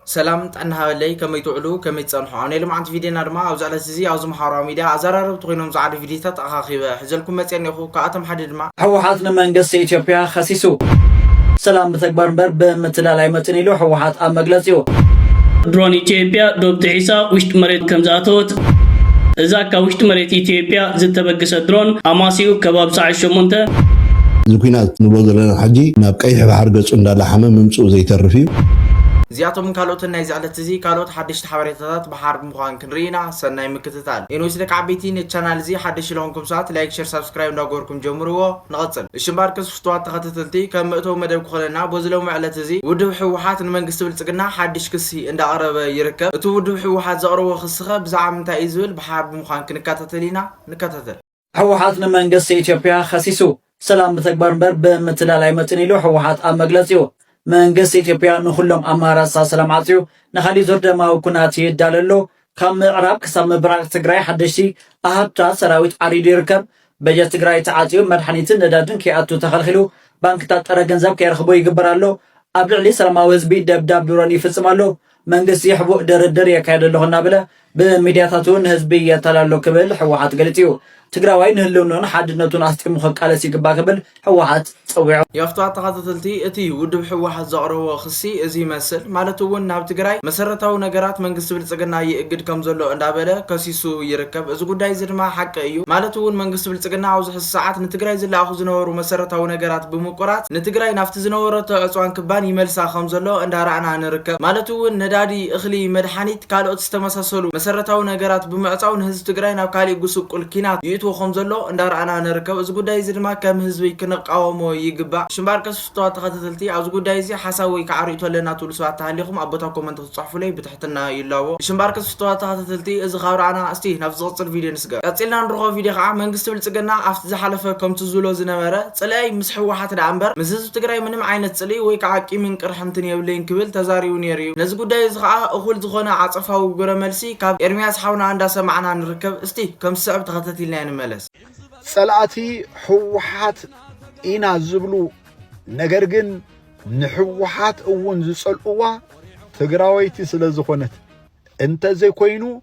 ሰላም ጥዕና ሃበለይ ከመይ ትውዕሉ ከመይ ትጸንሑ ኣብ ናይ ሎምዓንቲ ቪድዮና ድማ ኣብዚ ዕለት እዚ ኣብዚ ማሓበራዊ ሚድያ ኣዛራረብቲ ኮይኖም ዝዓዱ ቪድዮታት ኣኻኺበ ሕዘልኩም መጽየ እኔኹ ካብኣቶም ሓደ ድማ ህወሓት ንመንግስቲ ኢትዮጵያ ኸሲሱ። ሰላም ብተግባር እምበር ብምትላል ኣይመፅእን ኢሉ ህወሓት ኣብ መግለፂኡ። ድሮን ኢትዮጵያ ዶብ ጥሒሳ ውሽጢ መሬት ከምዝኣተወት እዛ ካብ ውሽጢ መሬት ኢትዮጵያ ዝተበግሰት ድሮን ኣማስይኡ ከባቢ ሰዓት ሸሞንተ እዚ ኲናት ንብሎ ዘለና ሕጂ ናብ ቀይሕ ባሕሪ ገጹ እንዳላሓመ ምምጽኡ ዘይተርፍ እዩ። እዚኣቶምን ካልኦትን ናይዚ ዕለት እዚ ካልኦት ሓደሽቲ ሓበሬታታት ብሓር ምዃን ክንርኢ ኢና ሰናይ ምክትታል። ኤንዌስ ደቂ ዓበይቲ ነቲ ቻናል እዚ ሓደሽቲ ለኾንኩም ሰባት ላይክ ሸር ሳብስክራይብ እንዳገበርኩም ጀምርዎ ንቐጽል እሺ እምበኣር ቅስ ፍቱዋት ተኸተተልቲ ከም መእተዊ መደብ ክኾነና በዚ ሎሚ ዕለት እዚ ውድብ ህወሓት ንመንግስቲ ብልፅግና ሓድሽ ክሲ እንዳቕረበ ይርከብ። እቲ ውድብ ህወሓት ዘቕረቦ ክስኸ ብዛዕባ ምንታይ እዩ ዝብል ብሓባር ብምዃን ክንከታተል ኢና። ንከታተል። ህወሓት ንመንግስቲ ኢትዮጵያ ኸሲሱ። ሰላም ብተግባር እምበር ብምትላል ኣይመፅእን ኢሉ ህወሓት ኣብ መግለፂኡ። መንግስቲ ኢትዮጵያ ንኹሎም ኣማራፅታት ሰላም ዓፅዩ ንኻሊእ ዙር ደማዊ ኩናት ይዳሎ ኣሎ ካብ ምዕራብ ክሳብ ምብራቕ ትግራይ ሓደሽቲ ኣሃዱታት ሰራዊት ዓሪዱ ይርከብ። በጀት ትግራይ ተዓፅዩ፣ መድሓኒትን ነዳድን ከይኣቱ ተኸልኺሉ፣ ባንክታት ጥረ ገንዘብ ከይረኽቡ ይግበር ኣሎ፣ ኣብ ልዕሊ ሰላማዊ ህዝቢ ደብዳብ ድሮን ይፍፅም ኣሎ፣ መንግስቲ ሕቡእ ድርድር የካይድ ኣለኹ እናበለ ብሚድያታቱ ንህዝቢ የተላሎ ክብል ህወሓት ገሊፁ እዩ። ትግራዋይ ንህልውንኡን ሓድነቱን ኣስጢሙ ከቃለስ ይግባ ክብል ህወሓት ፀዊዑ። የኽቷ ተኸታተልቲ እቲ ውድብ ህወሓት ዘቕረቦ ክሲ እዚ ይመስል ማለት እውን ናብ ትግራይ መሰረታዊ ነገራት መንግስቲ ብልፅግና ይእግድ ከም ዘሎ እንዳበለ ከሲሱ ይርከብ እዚ ጉዳይ እዚ ድማ ሓቂ እዩ ማለት እውን መንግስቲ ብልፅግና ኣብዚ ሕዚ ሰዓት ንትግራይ ዝለኣኹ ዝነበሩ መሰረታዊ ነገራት ብምቁራፅ ንትግራይ ናብቲ ዝነበረቶ ዕፅዋን ክባን ይመልሳ ከም ዘሎ እንዳራእና ንርከብ ማለት እውን ነዳዲ እኽሊ መድሓኒት ካልኦት ዝተመሳሰሉ መሰረታዊ ነገራት ብምዕጻው ንህዝቢ ትግራይ ናብ ካሊእ ጉስቁል ኪናት ይእትዎ ከምዘሎ እንዳረኣና ንርከብ እዚ ጉዳይ እዚ ድማ ከም ህዝቢ ክንቓወሞ ይግባእ ሽምባር ቀሲስ ፍቱዋት ተኸታተልቲ ኣብዚ ጉዳይ እዚ ሓሳብ ወይ ካዓ ሪእቶ ኣለና ትብሉ ሰባት ተሃሊኹም ኣብ ቦታ ኮመንት ክትጽሕፉለይ ብትሕትና ይላቦ ሽምባር ቀሲስ ፍቱዋት ተኸታተልቲ እዚ ካብ ረኣና እስቲ ናብ ዝቕጽል ቪድዮ ስገር። ቀጺልና ንርኾ ቪድዮ ከኣ መንግስቲ ብልጽግና ኣብቲ ዝሓለፈ ከምቱ ዝብሎ ዝነበረ ጽልኣይ ምስ ሕወሓት ደኣ እምበር ምስ ህዝቢ ትግራይ ምንም ዓይነት ጽልኢ ወይ ከኣ ቂምን ቅርሕንትን የብለይን ክብል ተዛሪቡ ነይሩ እዩ ነዚ ጉዳይ እዚ ከኣ እኹል ዝኾነ ዓጸፋዊ ግብረ መልሲ ካብ ኤርምያስ ሓውና እንዳ ሰማዕና ንርከብ እስቲ ከም ዝስዕብ ተኸተቲልናዮ ንመለስ። ጸላእቲ ሕወሓት ኢና ዝብሉ ነገር ግን ንሕወሓት እውን ዝጸልኡዋ ትግራወይቲ ስለ ዝኾነት እንተዘይኮይኑ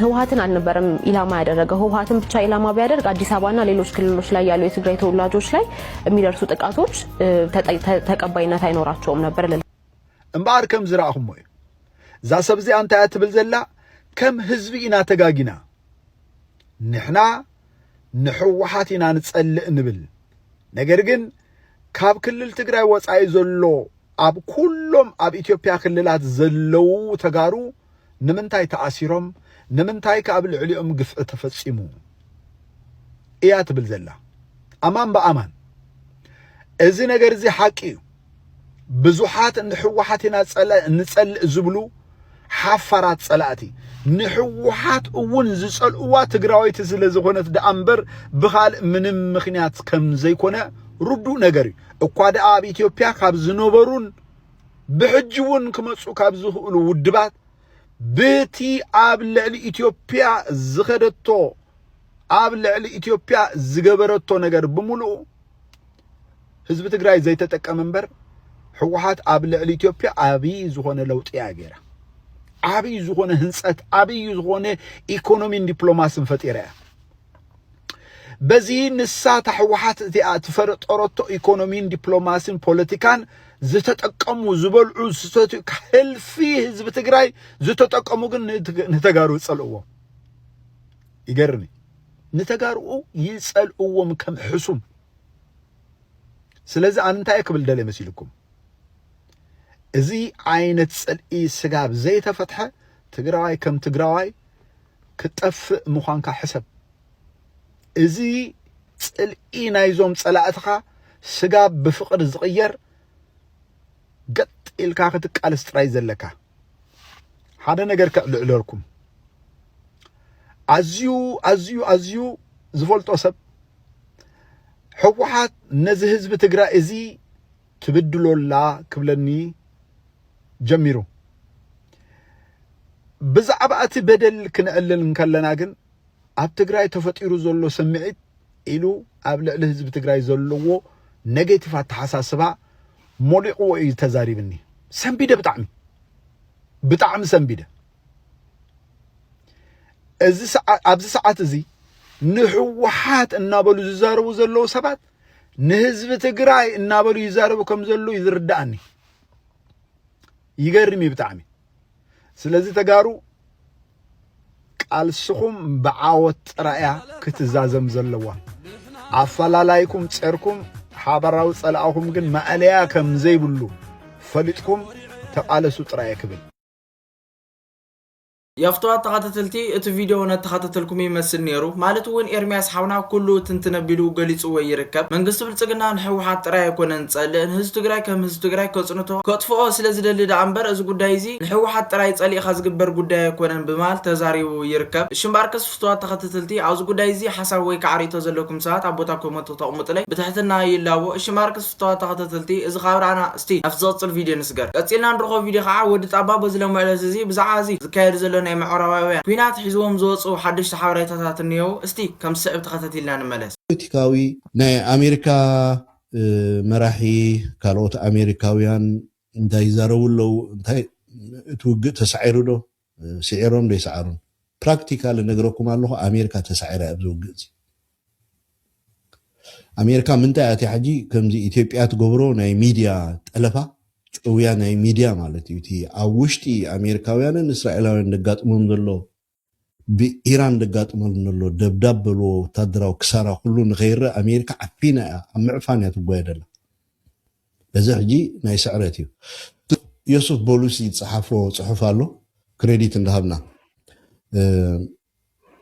ህወሓትን አልነበረም ኢላማ ያደረገው። ህወሓትን ብቻ ኢላማ ቢያደርግ አዲስ አበባና ሌሎች ክልሎች ላይ ያሉ የትግራይ ተወላጆች ላይ የሚደርሱ ጥቃቶች ተቀባይነት አይኖራቸውም ነበር። እምበኣር ከም ዝረኣኹሞ እዩ እዛ ሰብ እዚኣ እንታይ እያ ትብል ዘላ ከም ህዝቢ ኢና ተጋጊና ንሕና ንሕወሓት ኢና ንጸልእ ንብል ነገር ግን ካብ ክልል ትግራይ ወፃኢ ዘሎ ኣብ ኩሎም ኣብ ኢትዮጵያ ክልላት ዘለዉ ተጋሩ ንምንታይ ተኣሲሮም ንምንታይ ከ ኣብ ልዕሊኦም ግፍዒ ተፈጺሙ እያ ትብል ዘላ ኣማን ብኣማን እዚ ነገር እዚ ሓቂ እዩ ብዙሓት ንሕወሓት ኢና ንጸልእ ዝብሉ ሓፋራት ጸላእቲ ንሕወሓት እውን ዝጸልእዋ ትግራወይቲ ስለ ዝኾነት ደኣ እምበር ብኻልእ ምንም ምክንያት ከም ዘይኮነ ርዱእ ነገር እዩ እኳ ደኣ ኣብ ኢትዮጵያ ካብ ዝነበሩን ብሕጂ እውን ክመፁ ካብ ዝኽእሉ ውድባት ብቲ ኣብ ልዕሊ ኢትዮጵያ ዝኸደቶ ኣብ ልዕሊ ኢትዮጵያ ዝገበረቶ ነገር ብምልኡ ህዝቢ ትግራይ ዘይተጠቀመ እምበር ህወሓት ኣብ ልዕሊ ኢትዮጵያ ዓብዪ ዝኾነ ለውጢ እያ ገይራ ዓብዪ ዝኾነ ህንፀት ዓብዪ ዝኾነ ኢኮኖሚን ዲፕሎማሲን ፈጢራ እያ በዚ ንሳ እታ ህወሓት እቲኣ እትፈረጠረቶ ኢኮኖሚን ዲፕሎማሲን ፖለቲካን ዝተጠቀሙ ዝበልዑ ዝሰትዩ ህልፊ ህዝቢ ትግራይ ዝተጠቀሙ ግን ንተጋሩ ይጸልእዎም ይገርም ንተጋርኡ ይጸልእዎም ከም ሕሱም ስለዚ ኣነ እንታይ ክብል ደለ መሲልኩም እዚ ዓይነት ጽልኢ ስጋብ ዘይተፈትሐ ትግራዋይ ከም ትግራዋይ ክትጠፍእ ምዃንካ ሕሰብ። እዚ ጽልኢ ናይዞም ጸላእትኻ ስጋ ብፍቕሪ ዝቕየር ገጥ ኢልካ ክትቃለስ ጥራይ ዘለካ። ሓደ ነገር ከዕልዕለልኩም ኣዝዩ ኣዝዩ ኣዝዩ ዝፈልጦ ሰብ ህወሓት ነዚ ህዝቢ ትግራይ እዚ ትብድሎ ኣላ ክብለኒ ጀሚሩ። ብዛዕባ እቲ በደል ክንዕልል እንከለና ግን ኣብ ትግራይ ተፈጢሩ ዘሎ ስምዒት ኢሉ ኣብ ልዕሊ ህዝቢ ትግራይ ዘለዎ ኔጌቲቭ ኣተሓሳስባ ሞሊቕዎ እዩ ተዛሪብኒ ሰንቢደ ብጣዕሚ ብጣዕሚ ሰንቢደ ኣብዚ ሰዓት እዚ ንህወሓት እናበሉ ዝዛረቡ ዘለዉ ሰባት ንህዝቢ ትግራይ እናበሉ ይዛረቡ ከም ዘለዉ እዩ ዝርዳእኒ። ይገርም እዩ ብጣዕሚ። ስለዚ ተጋሩ ቃልስኹም ብዓወት ጥራያ ክትዛዘም ዘለዋ ኣፈላላይኩም ጸርኩም ሓበራዊ ጸላእኹም ግን ማእለያ ከም ዘይብሉ ፈሊጥኩም ተቓለሱ ጥራየ ክብል የፍትዋት ተኸተተልቲ እቲ ቪድዮ እውነት ተኸተተልኩም ይመስል ነይሩ ማለት እውን ኤርሚያስ ሓውና ኩሉ ትንትን ኣቢሉ ገሊፅዎ ይርከብ መንግስቲ ብልፅግና ንሕወሓት ጥራይ ኣይኮነን ዝፀልእ ንህዝቢ ትግራይ ከም ህዝቢ ትግራይ ከፅንቶ ከጥፍኦ ስለዝደሊ ደኣ እምበር እዚ ጉዳይ እዚ ንሕወሓት ጥራይ ፀሊእኻ ዝግበር ጉዳይ ኣይኮነን ብምባል ተዛሪቡ ይርከብ እሺ እምበኣርከስ ፍትዋት ተኸተተልቲ ኣብዚ ጉዳይ እዚ ሓሳብ ወይ ከዓ ሪኢቶ ዘለኩም ሰባት ኣብ ቦታ ኮመንቱ ክተቕሙጥለይ ብትሕትና ይላቦ እሺ እምበኣርከስ ፍቱዋት ተኸታተልቲ እዚ ካብ ራእና እስቲ ናብቲ ዝቕጽል ቪድዮ ንስገር። ቀጺልና ንረኽቦ ቪድዮ ከኣ ወዲ ጣባ በዚ ሎሚ ዕለት እዚ ብዛዕባ እዚ ዝካየድ ዘሎ ናይ ምዕራባውያን ኲናት ሒዝዎም ዝወጽኡ ሓደሽቲ ሓበሬታታት እንሄዉ እስቲ ከም ዝስዕብ ተኸታቲልና ንመለስ። ፖለቲካዊ ናይ ኣሜሪካ መራሒ ካልኦት ኣሜሪካውያን እንታይ ይዛረቡ ኣለዉ እንታይ እቲ ውግእ ተሳዒሩ ዶ ስዒሮም ዶ ኣይሰዓሩን ፕራክቲካሊ እነግረኩም ኣለኹ ኣሜሪካ ተሳዒራ እያ ኣብዚ ውግእ እዚ ኣሜሪካ ምንታይ ኣትያ ሕጂ ከምዚ ኢትዮጵያ ትገብሮ ናይ ሚድያ ጠለፋ ጭውያ ናይ ሚድያ ማለት እዩ እቲ ኣብ ውሽጢ ኣሜሪካውያንን እስራኤላውያን ደጋጥሞም ዘሎ ብኢራን ደጋጥሞም ዘሎ ደብዳብ በልዎ ወታደራዊ ክሳራ ኩሉ ንኸይረእ ኣሜሪካ ዓፊና እያ ኣብ ምዕፋን እያ ትጓየደላ እዚ ሕጂ ናይ ስዕረት እዩ ዮሱፍ ቦሉሲ ዝጸሓፎ ጽሑፍ ኣሎ ክረዲት እንዳሃብና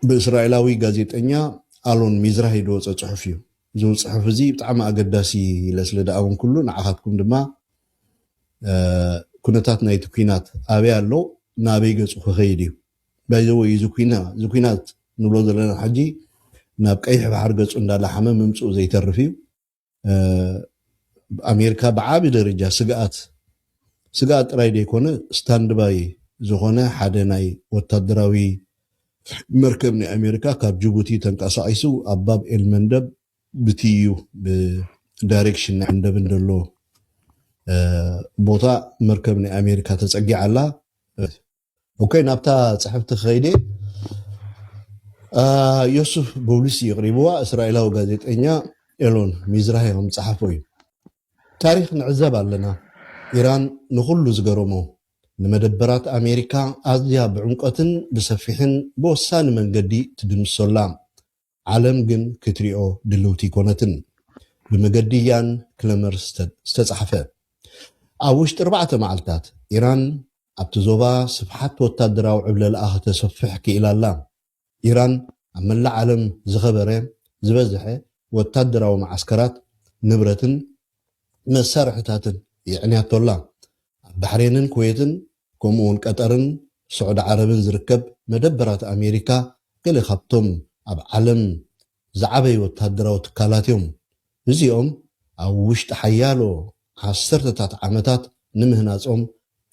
ብእስራኤላዊ ጋዜጠኛ ኣሎን ሚዝራሂ ዝወጸ ጽሑፍ እዩ እዚ ጽሑፍ እዚ ብጣዕሚ ኣገዳሲ ኢለ ስለ ደኣወንኩሉ ንዓኻትኩም ድማ ኩነታት ናይቲ ኩናት ኣበይ ኣሎ ናበይ ገጹ ክኸይድ እዩ ባይዘወይ እዚ ኩናት ንብሎ ዘለና ሕጂ ናብ ቀይሕ ባሕሪ ገጹ እንዳላሓመ ምምጽኡ ዘይተርፍ እዩ ኣሜሪካ ብዓቢ ደረጃ ስግኣት ስግኣት ጥራይ ዘይኮነ ስታንድባይ ዝኾነ ሓደ ናይ ወታደራዊ መርከብ ናይ ኣሜሪካ ካብ ጅቡቲ ተንቀሳቒሱ ኣብ ባብ ኤል መንደብ ብትይዩ ብዳይሬክሽን ናይ መንደብን ዘሎ ቦታ መርከብ ናይ ኣሜሪካ ተጸጊዓ ኣላ። ኦኬ ናብታ ጽሕፍቲ ክኸይድ ዮሱፍ ቦብሊስ የቕሪብዋ እስራኤላዊ ጋዜጠኛ ኤሎን ሚዝራሂ ከም ዝጸሓፎ እዩ ታሪክ ንዕዘብ ኣለና ኢራን ንኹሉ ዝገረሞ ንመደበራት ኣሜሪካ ኣዝያ ብዕምቆትን ብሰፊሕን ብወሳኒ መንገዲ ትድምሶላ ዓለም ግን ክትሪኦ ድልውቲ ኣይኮነትን። ብመገዲ ያን ክለመር ዝተጻሕፈ። ኣብ ውሽጢ ኣርባዕተ መዓልታት፣ ኢራን ኣብቲ ዞባ ስፍሓት ወታደራዊ ዕብለላኣ ከተሰፍሕ ክኢላ ኣላ። ኢራን ኣብ መላእ ዓለም ዝኸበረ፣ ዝበዝሐ፣ ወታደራዊ መዓስከራት፣ ንብረትን መሳርሒታትን የዕንያቶ ኣላ። ኣብ ባሕሬንን ኩዌትን ከምኡ'ውን ቀጠርን ስዑዲ ዓረብን ዝርከብ መደበራት ኣሜሪካ ገለ ካብቶም ኣብ ዓለም ዝዓበዩ ወተሃደራዊ ትካላት እዮም። እዚኦም ኣብ ውሽጢ ሓያሎ ዓሰርተታት ዓመታት ንምህናጾም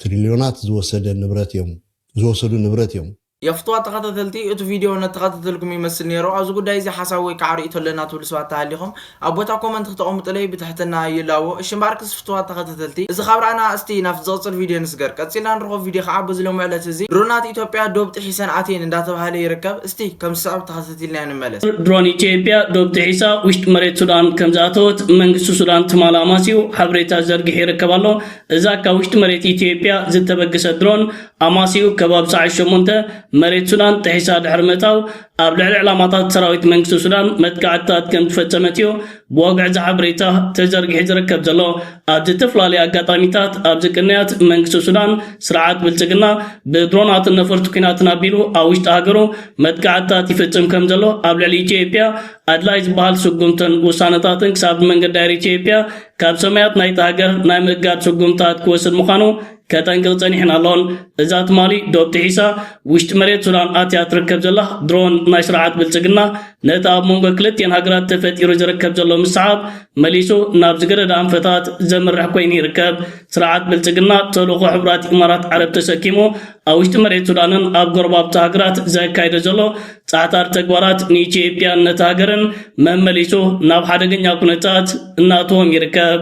ትሪልዮናት ዝወሰደ ንብረት እዮም ዝወሰዱ ንብረት እዮም። የፍትዋ ተኸታተልቲ እቲ ቪድዮ ነተኸታተልኩም ይመስል ኔሩ ኣብዚ ጉዳይ እዚ ሓሳብ ወይ ከዓ ሪኢቶ ኣለና ትብሉ ሰባት ተሃሊኹም ኣብ ቦታ ኮመንት ክተቐሙጥለይ ብትሕትና ይላቦ እሺ እምበኣርክስ ፍትዋት ተኸታተልቲ እዚ ካብ ረኣና ኣስቲ ናብቲ ዝቕፅል ቪድዮ ንስገር ቀፂልና ንረኽቦ ቪድዮ ከዓ በዚ ሎሚ ዕለት እዚ ድሮናት ኢትዮጵያ ዶብ ጢሒሰን ኣትየን እንዳተብሃለ ይርከብ እስቲ ከም ዝስዕብ ተኸታቲልናዮ ንመለስ። ድሮን ኢትዮጵያ ዶብ ጢሒሳ ውሽጢ መሬት ሱዳን ከም ዝኣተወት መንግስቲ ሱዳን ትማል ኣማስዩ ሓበሬታ ዘርጊሑ ይርከብ ኣሎ እዛ ካብ ውሽጢ መሬት ኢትዮጵያ ዝተበግሰት ድሮን ኣማስይኡ ከባቢ ሰዓት ሸሞንተ መሬት ሱዳን ጥሒሳ ድሕሪ ምእታው ኣብ ልዕሊ ዕላማታት ሰራዊት መንግስቲ ሱዳን መጥቃዕትታት ከምዝፈጸመት እዩ ብወግዒ እዚ ሓበሬታ ተዘርጊሑ ዝርከብ ዘሎ። ኣብ ዝተፈላለየ ኣጋጣሚታት ኣብዚ ቅንያት መንግስቲ ሱዳን ስርዓት ብልጽግና ብድሮናትን ነፈርቲ ኲናትን ኣቢሉ ኣብ ውሽጢ ሃገሩ መጥቃዕትታት ይፍጽም ከምዘሎ ኣብ ልዕሊ ኢትዮጵያ ኣድላይ ዝበሃል ስጉምትን ውሳነታትን ክሳብ ብመንገዲ ኣየር ኢትዮጵያ ካብ ሰማያት ናይቲ ሃገር ናይ ምእጋድ ስጉምታት ክወስድ ምዃኑ ከጠንቅቕ ጸኒሕን ኣሎን። እዛ ትማሊ ዶብ ጥሒሳ ውሽጢ መሬት ሱዳን ኣትያ ትርከብ ዘላ ድሮን ናይ ስርዓት ብልጽግና፣ ነቲ ኣብ መንጎ ክልቲኤን ሃገራት ተፈጢሩ ዝርከብ ዘሎ ምስዓብ መሊሱ ናብ ዝገደደ ኣንፈታት ዘምርሕ ኮይኑ ይርከብ። ስርዓት ብልጽግና ተልእኾ ሕቡራት ኢማራት ዓረብ ተሰኪሙ ኣብ ውሽጢ መሬት ሱዳንን ኣብ ጎረባብቲ ሃገራት ዘካይዶ ዘሎ ጻዕታሪ ተግባራት ንኢትዮጵያን ነቲ ሃገርን መመሊሱ ናብ ሓደገኛ ኩነታት እናእተዎም ይርከብ።